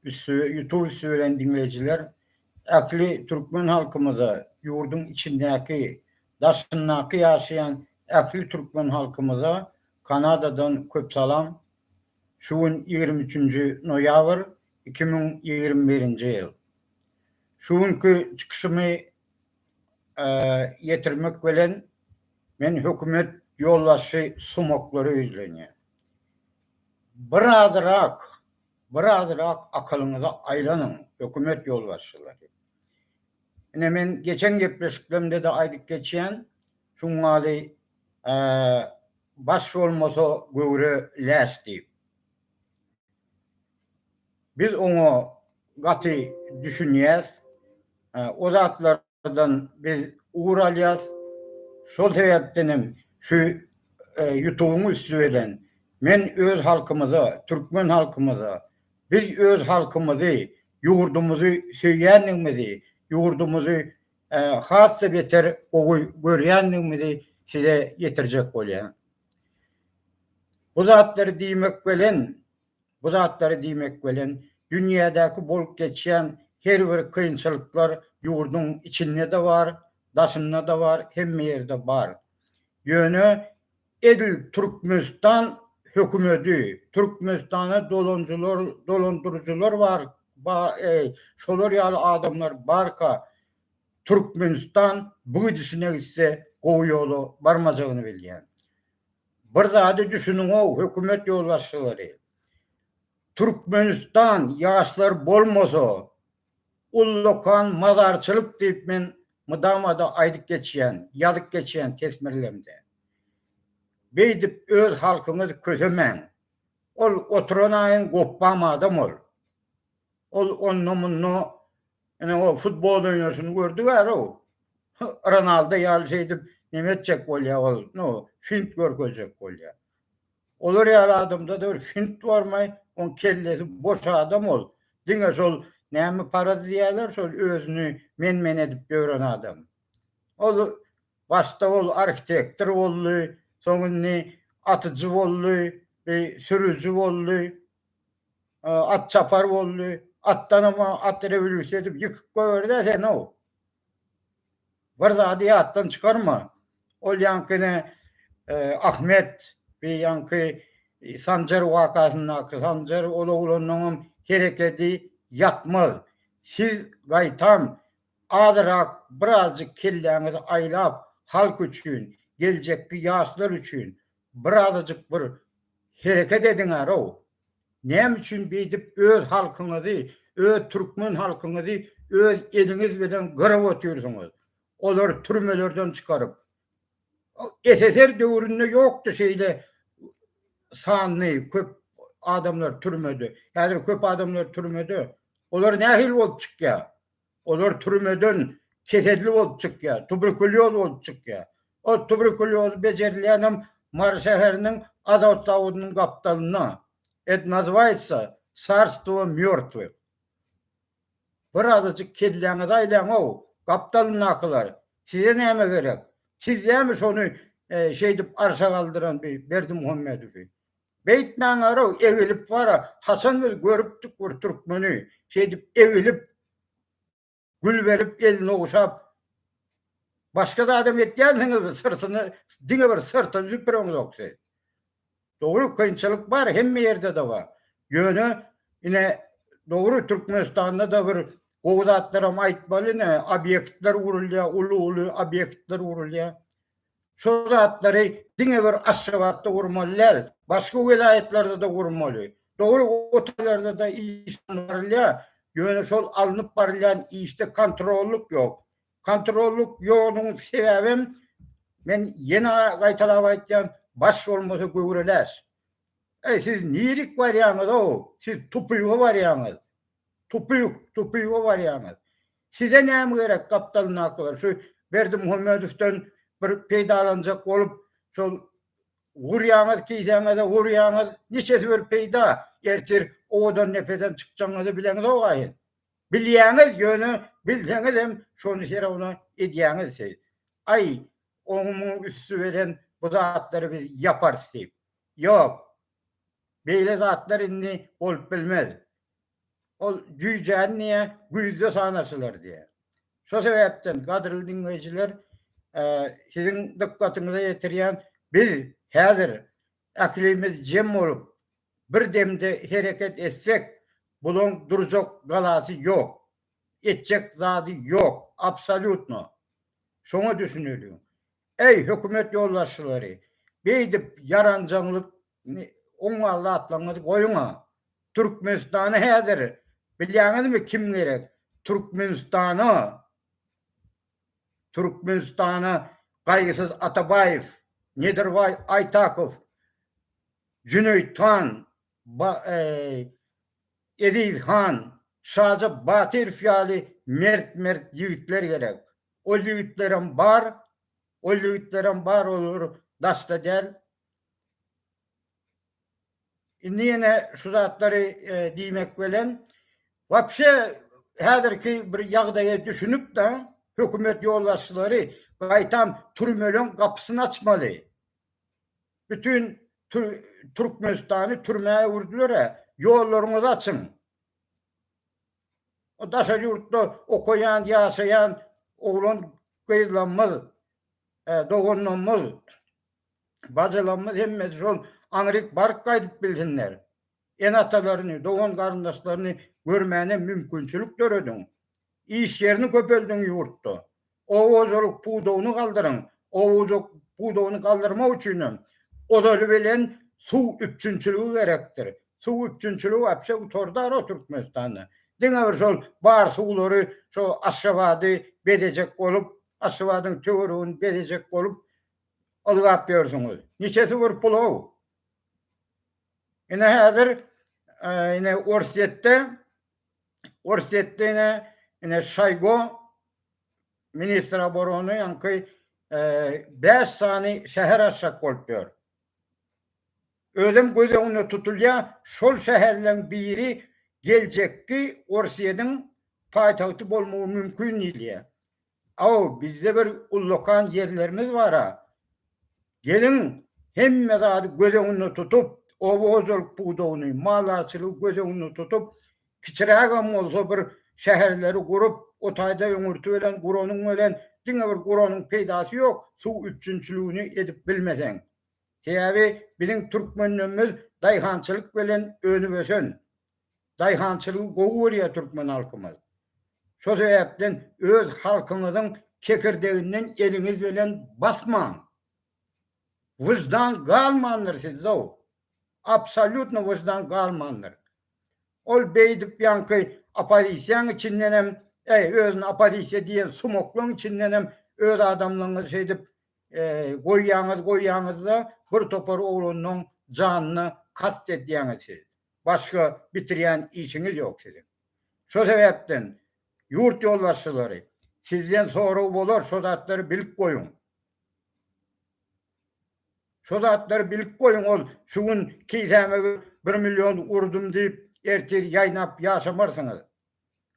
üsti ýutup üsti bilen diňleýjiler ähli türkmen halkymyza ýurduň içindäki daşyndaky ýaşaýan ähli türkmen halkymyza kanadadan köp salam şu gün ýigrimi üçünji noýabr iki müň ýigrimi birinji ýyl şu günki çykyşymy ýetirmek bilen men hökümet ýolbaşçy sumaklary ýüzlenýän Birazrak, birazrak akylyňyza aýlanyň, hökümet ýolbaşçylary. Ine, men geçen gepleşiklerimde-de aýdyp geçýän, şuňňaly Baş bolmasa, göwre läş diýip. Biz oňa gaty düşünýäs. O zatlar ýollardan biz ugur alýas. Şol sebäpden hem şu ýutubyň üsti bilen men öz halkymyza, türkmen halkymyza, biz öz halkymyzy, ýurdumyzy söýýändigimizi, ýurdumyzy has-da beter gowy görýändigimizi size ýetirjek bolýan. Bu zatlary diýmek bilen Bu zatlary diýmek bilen, dünýädäki bolup geçýän her bir kynçylyklar ýurduň içinde-de bar, daşynda-da bar, hemme ýerde bar. Ýöne edil Türkmenistan hökümeti, Türkmenistana dolanjylar, dolandyryjylar bar, ba, e, şolar ýaly adamlar barka, Türkmenistan bu gidişine gitse gowy ýola barmajagyny bilýän. Bir zady düşüniňow hökümet ýolbaşçylary. Türkmenistan ýaşlar bolmasa ullakan mazarçylyk diýip men mydamada aýdyp geçýän, ýazyp geçýän tesmirlemde. Beýdip öz halkyňyzy kösemäň. Ol oturanaýyn gopbam adam ol. Ol onda-munda ine o futbol oýnaşyny gördi bäri-ow. Ronaldo ýaly şeýdip neme etjek bolýar ol, no, fint görkezjek bolýar. Olar ýaly adamda-da bir fint barmy, oň kellesi boş adam ol. Diňe şol näme paraz diýýärler, şol özüni men-men edip ýören adam. Ol başda ol arhitektor boldy, soň indi atyjy boldy, sürüji boldy, At çapar boldy. Atdanam at rewolýusiýa edip ýykyp goýberdi-ä sen-ow. Bir zady ýatdan çykarma. Ol ýaňkyny Ahmet we ýaňky Sanjar wakasyndaky Sanjar ol oglanlaňam herekedi ýatmaz. Siz gaýtam azyrak birazjyk kelläňizi aýlap halk üçin, geljekki ýaşlar üçin Bir azajyk bir hereket ediňärow. Näme üçin beýdip öz halkyňyzy, öz türkmen halkyňyzy öz eliňiz bilen gyrap otyrsyňyz. Olary türmelerden çykaryp. SSR döwründe ýokdy şeýle sanly köp adamlar türmede. Häzir köp adamlar türmede. Olar nähili bolup çykýar? Olar türmeden keselli bolup çykýar, tuberkulýoz bolup çykýar. Ol tuberkulýozy bejerilýänem Mary şäheriniň Azot zawodynyň gapdalynda. Et nazywaýetsa Carstwo mýortwych. Bir azajyk kelläňizi aýlaň-ow, gapdalyndakylar, size näme gerek? Siz dämi şony şeýdip arşa galdyran bi Berdimuhammedowy? Beýtmäňerow, egilip bara, haçan biz görüpdik bir türkmeni şeýdip egilip, gül berip, elini ogşap. Başga zadam etýänsiňiz, syrtyny, diňe bir syrtyny süpüreňzok siz. Dogry, kynçylyk bar, hemme ýerde-de bar. Ýöne, ine, dogry, Türkmenistanda-da bir gowy zatlaram aýtmaly, ine, obýektler gurulýar, uly-uly obýektler gurulýar. Şol zatlary diňe bir Aşgabatda gurmaly däl, başga welaýatlarda-da gurmaly. Dogry, o taýlarda-da iş alnyp barylýar, ýöne şol alnyp barylýan işde kontrollyk ýok. Kontrollyk ýoglugynyň sebäbem, men ýene gaýtalap aýtýan, baş bolmasa göwre läş. Äý, siz nirik barýaňyz-ow, siz tupyga barýaňyz. Tupyk, tupyga barýaňyz. Size näme gerek gapdalyndakylar şu Berdimuhamedowdan bir peýdalanjak bolup şol urýaňyz kisäňize urýaňyz niçesi bir peýda ertir owadan nepeden çykjagyňyzy bileňizowga siz. Bilýäňiz ýöne bilseňizem şony herowna edýäňiz siz. Aý oňy muňy üsti beren bu zatlary biz ýaparys diýip. Ýok. Beýle zatlar indi bolup bilmez. Ol jüýjäni diňe güýzde sanarsylar diýýär. Şo sebäpden, gadyrly diňleýjiler, siziň dykgatyňyza ýetirýän, biz häzir ählimiz jem bolup, bir demde hereket etsek, bulaň durjak galasy ýok, etjek zady ýok, absolýutno. Şoňa düşüneliň. Eý, hökümet ýolbaşçylary, beýdip ýaranjaňlyk Indi oň gal zatlaryňyzy goýuň-a. Türkmenistana häzir bilýäňizmi kim gerek? Türkmenistana Türkmenistana Gaýgysyz Atabaýew, Nedirbaý Aýtakow, Jüneýit han, Eziz han, Şaja Batyrow ýaly mert-mert ýigitler gerek. Ol ýigitlerem bar, ol ýigitlerem bar, olar daşda däl. Indi ýene şu zatlary diýmek bilen, wapşe häzirki bir ýagdaýa düşünip-de, hökümet ýolbaşçylary gaýtam türmeleň gapysyny açmaly. Bütin Türkmenistany türmä öwürdiler-ä, ýollaryňyzy açyň. O daşary ýurtda okaýan, ýaşaýan oglan-gyzlarymyz, doganlarymyz. Bajylarymyz hemmesi şol aňryk baryp gaýdyp bilsinler. Ene-atalaryny, dogan-garyndaşlaryny görmäne mümkinçilik dörediň. Iş ýerini köpeldiň ýurtda. Oba hojalyk pudagyny galdyryň. Oba hojalyk pudagyny galdyrmak üçinem ozaly bilen suw üpjünçiligi gerekdir. Suw üpjünçiligi wapşe gutardar-a Türkmenistanda. Diňe bir şol bar suwlary şo Aşgabady bezejek bolup, Aşgabadyň töweregini bezejek bolup Ylgap ýörsüňiz. Niçesi bir pul-how? Ine häzir ine Orsýetde Orsýetde ine ine Şaýgo ministr obrony ýaňky 5 sany şäher açjak bolup ýör. Özem göz öňünde tutulýar, şol şäherleriň biri geljekki Orsýetiň paýtagty bolmagy mümkin diýilýär. Aw bizde bir ullakan ýerlerimiz bara. Geliň hemme zady göz öňünde tutup, oba hojalyk pudagyny, maldarçylygy göz öňünde tutup, kiçirägem bolsa bir şäherleri gurup, o taýda öňürti bilen guranyň bilen diňe bir guranyň peýdasy ýok, suw üpjünçiligini edip bilmeseň. Sebäbi biziň türkmenlemmiz daýhançylyk bilen önüp ösen. Daýhançylygy gowy görýär türkmen halkymyz. Şo sebäpden öz halkyňyzyň kekirdeginden eliňiz bilen basmaň. Wyždan galmandyr sizde-ow. Absolýutno wyždan galmandyr. Ol beýdip ýaňky oppozisiýaň içindenem, äý, özüni oppozisiýa diýen sumaklaň içindenem öz adamlaryňyzy şeýdip goýýaňyz, goýýaňyz-da, bir topar oglanlaň janyna kast edýäňiz siz. başga bitirýän işiňiz ýok siziň. Şo sebäpden ýurt ýolbaşçylary sizden sorag bolar şo zatlary bilip goýuň. Şo zatlary bilip goýuň ol şu gün kisäme bir million urdum diýip ertir ýaýnap ýaşamarsyňyz.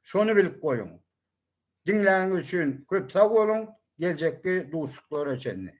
Şony bilip goýuň. Diňläniňiz üçin köp sag boluň geljekki duşuşyklara çenli.